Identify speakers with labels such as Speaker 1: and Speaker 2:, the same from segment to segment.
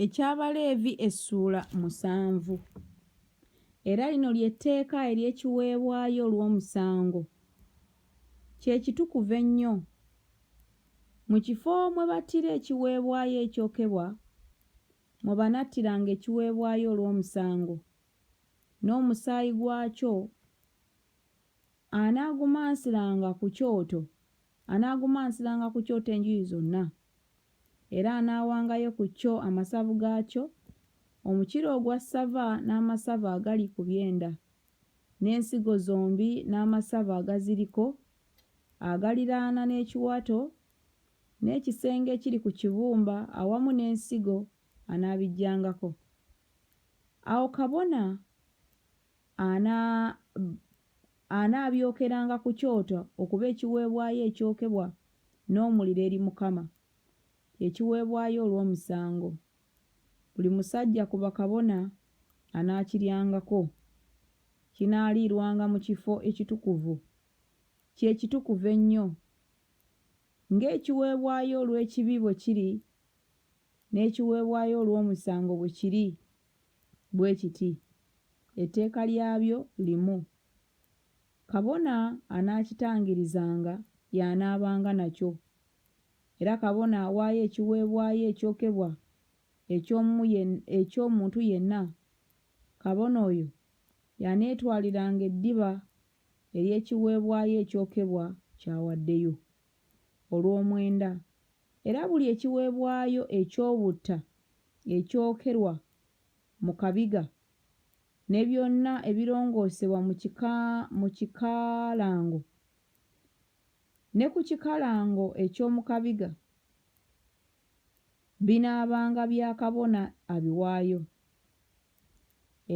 Speaker 1: Eky'Abaleevi essuula musanvu. Era lino lye tteeka ery'ekiweebwayo olw'omusango, kye kitukuvu ennyo, Mu kifo mwe battira ekiweebwayo ekyokebwa, mwe banattiranga ekiweebwayo olw'omusango, n'omusaayi gwakyo anaagumansiranga ku kyoto, anaagumansiranga ku kyoto enjuyi zonna. Era anaawangayo ku kyo amasavu gaakyo, omukira ogwa ssava n'amasavu agali ku byenda, n'ensigo zombi n'amasavu agaziriko, agaliraana n'ekiwato, n'ekisenge ekiri ku kibumba awamu n'ensigo, anaabiggyangako. Awo kabona Ana, anaabyokeranga ku kyoto okuba ekiweebwayo ekyokebwa n'omuliro eri Mukama, kye kiweebwayo olw'omusango. Buli musajja ku bakabona anaakiryangako. Kinaaliirwanga mu kifo ekitukuvu, kye kitukuvu ennyo. Ng'ekiweebwayo olw'ekibi bwe kiri, n'ekiweebwayo olw'omusango bwe kiri bwe kiti, etteeka lyabyo limu. Kabona anaakitangirizanga y'anaabanga nakyo, era kabona awaayo ekiweebwayo ekyokebwa eky'omu eky'omuntu yenna, kabona oyo y'aneetwaliranga eddiba ery'ekiweebwayo ekyokebwa ky'awaddeyo, olw'omwenda Era buli ekiweebwayo eky'obutta ekyokerwa mu kabiga, ne byonna ebirongoosebwa mu kika, mu kikalango, ne ku kikalango eky'omu kabiga, binaabanga bya kabona abiwaayo.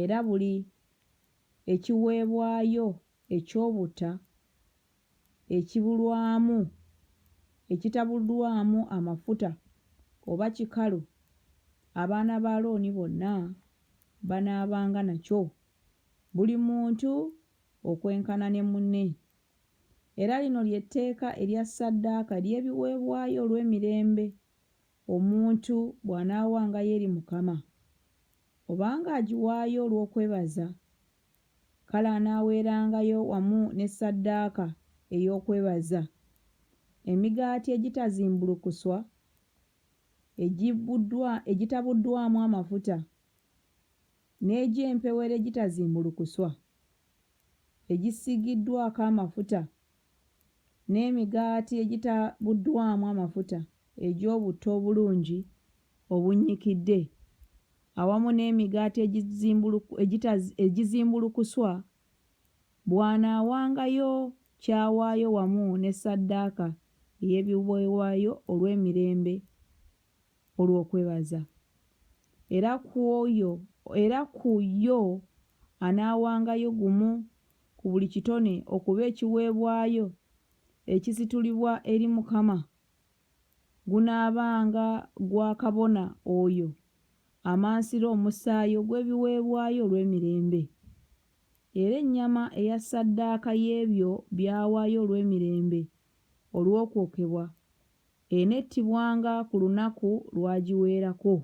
Speaker 1: Era buli ekiweebwayo eky'obutta ekibulwamu, ekitabuddwamu amafuta oba kikalu, abaana ba Alooni bonna banaabanga nakyo, buli muntu okwenkana ne munne. Era lino lye tteeka erya ssaddaaka ery'ebiweebwayo olw'emirembe omuntu bw'anaawangayo eri Mukama. Obanga agiwaayo olw'okwebaza, Kale anaaweerangayo wamu ne ssaddaaka ey'okwebaza, emigaati egitazimbulukuswa, egibbuddwa, egitabuddwamu amafuta, n'egy'empewero egitazimbulukuswa, egisiigiddwako amafuta n'emigaati egitabuddwamu amafuta egy'obutto obulungi obunnyikidde, awamu n'emigaati egizimbulukuswa, bw'anaawangayo ky'awaayo wamu ne ssaddaaka ey'ebiweebwayo olw'emirembe olw'okwebaza. Era ku yo anaawangayo gumu ku buli kitone okuba ekiweebwayo ekisitulibwa eri Mukama, gunaabanga gwa kabona oyo amansira omusaayi ogw'ebiweebwayo olw'emirembe. Era ennyama eya ssaddaaka y'ebyo by'awaayo olw'emirembe olw'okwokebwa enettibwanga ku lunaku lw'agiweerako.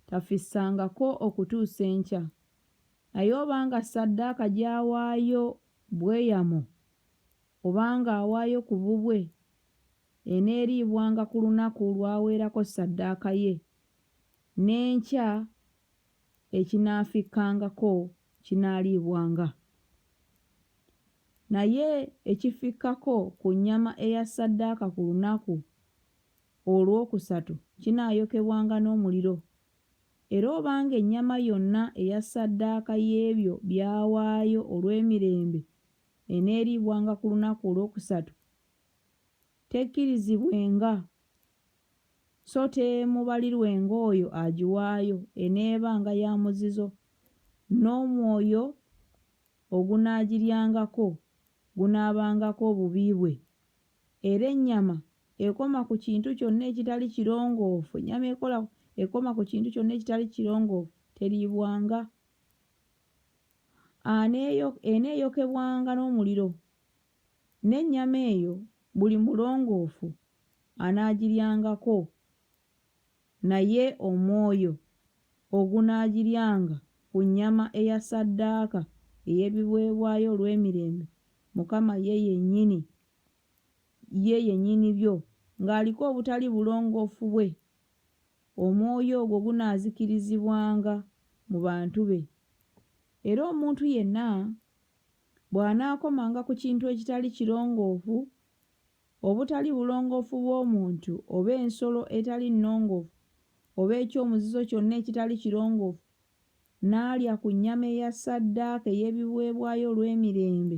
Speaker 1: Tafissangako okutuusa enkya. Naye obanga ssaddaaka gy'awaayo bweyamo, oba ng'awaayo ku bubwe, eneeriibwanga ku lunaku lw'aweerako ssaddaaka ye, n'enkya ekinaafikkangako kinaaliibwanga. Naye ekifikkako ku nnyama eya ssaddaaka ku lunaku olwokusatu kinaayokebwanga n'omuliro. Era obanga ennyama yonna eya ssaddaaka y'ebyo by'awaayo olw'emirembe eneeriibwanga ku lunaku olwokusatu, tekkirizibwenga, so temubalirwenga oyo agiwaayo, eneebanga ya muzizo, n'omwoyo ogunaagiryangako gunaabangako obubi bwe, era ennyama ekoma ku kintu kyonna ekitali kirongoofu ennyama ekola ekoma ku kintu kyonna ekitali kirongoofu teriibwanga eneeyokebwanga n'omuliro n'ennyama eyo buli mulongoofu anaagiryangako naye omwoyo ogunaagiryanga ku nnyama eya ssaddaaka ey'ebiweebwayo olw'emirembe mukama ye yennyini ye yennyini byo, ng'aliko obutali bulongoofu bwe, omwoyo ogwo gunaazikirizibwanga mu bantu be. Era omuntu yenna bw'anaakomanga ku kintu ekitali kirongoofu, obutali bulongoofu bw'omuntu, oba ensolo etali nnongoofu, oba eky'omuzizo kyonna ekitali kirongoofu, n'alya ku nnyama eya ssaddaaka ey'ebiweebwayo olw'emirembe,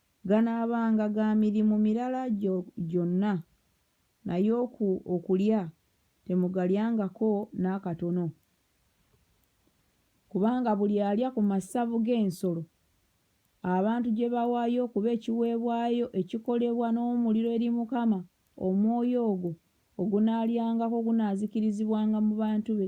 Speaker 1: Ganaabanga ga mirimu mirala gyo gyonna, naye oku, okulya temugalyangako n'akatono, kubanga buli alya ku massavu g'ensolo abantu gye bawaayo okuba ekiweebwayo ekikolebwa n'omuliro eri Mukama, omwoyo ogwo ogunaalyangako gunaazikirizibwanga mu bantu be,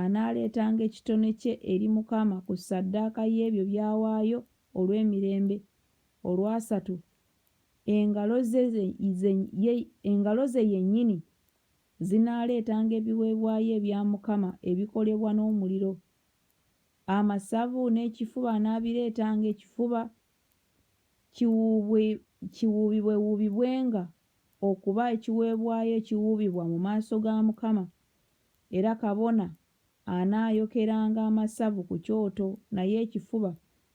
Speaker 1: anaaleetanga ekitone kye eri Mukama ku ssaddaaka y'ebyo by'awaayo olw'emirembe, olwasatu, engalo ze, ze, ye, engalo ze yennyini zinaaleetanga ebiweebwayo ebya Mukama ebikolebwa n'omuliro. Amasavu n'ekifuba anaabireetanga, ekifuba kiwuubwe, kiwuubibwewuubibwenga okuba ekiweebwayo ekiwuubibwa mu maaso ga Mukama, Era kabona anaayokeranga amasavu ku kyoto, naye ekifuba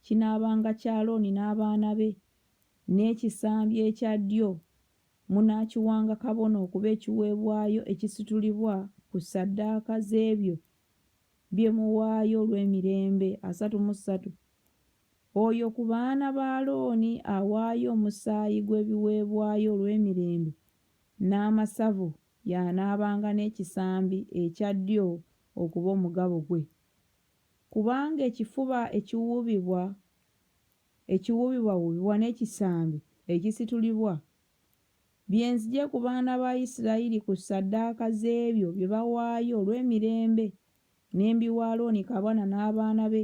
Speaker 1: kinaabanga kya Alooni n'abaana be, n'ekisambi ekya ddyo munaakiwanga kabona okuba ekiweebwayo ekisitulibwa ku ssaddaaka z'ebyo bye muwaayo olw'emirembe, asatu mu ssatu. Oyo ku baana ba Alooni awaayo omusaayi gw'ebiweebwayo olw'emirembe n'amasavu y'anaabanga n'ekisambi ekya ddyo okuba omugabo gwe, kubanga ekifuba ekiwuubibwa ekiwuubibwawuubibwa n'ekisambi ekisitulibwa, bye nzigye ku baana ba Isirayiri ku ssaddaaka z'ebyo bye bawaayo olw'emirembe, ne mbiwa Alooni kabona n'abaana be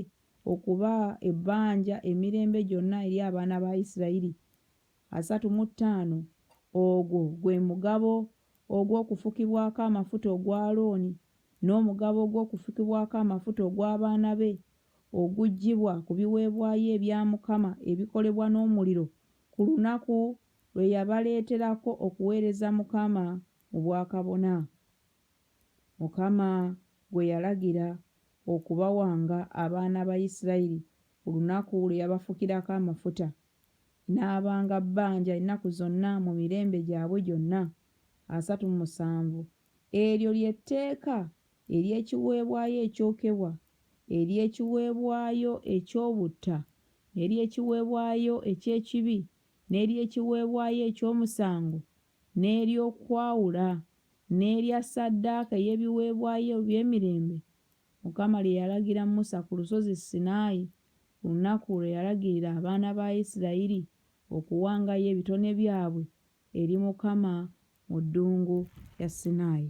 Speaker 1: okuba ebbanja emirembe gyonna eri abaana ba Isirayiri. asatu mu ttaano. Ogwo gwe mugabo ogw'okufukibwako amafuta ogwa Alooni, n'omugabo ogw'okufukibwako amafuta ogw'abaana be oguggyibwa ku biweebwayo ebya Mukama ebikolebwa n'omuliro, ku lunaku lwe yabaleeterako okuweereza Mukama mu bwakabona, Mukama gwe yalagira okubawanga abaana ba Isirayiri ku lunaku lwe yabafukirako amafuta. n'abanga bbanja ennaku zonna mu mirembe gyabwe gyonna asatu mu musanvu. Eryo lye tteeka ery'ekiweebwayo ekyokebwa, ery'ekiweebwayo eky'obutta, n'ery'ekiweebwayo eky'ekibi, n'ery'ekiweebwayo eky'omusango, n'ery'okwawula, n'erya ssaddaaka ey'ebiweebwayo eby'emirembe Mukama lye yalagira Musa ku lusozi Sinaayi, ku lunaku lwe yalagirira abaana ba Isirayiri okuwangayo ebitone byabwe eri Mukama mu ddungu lya Sinaayi.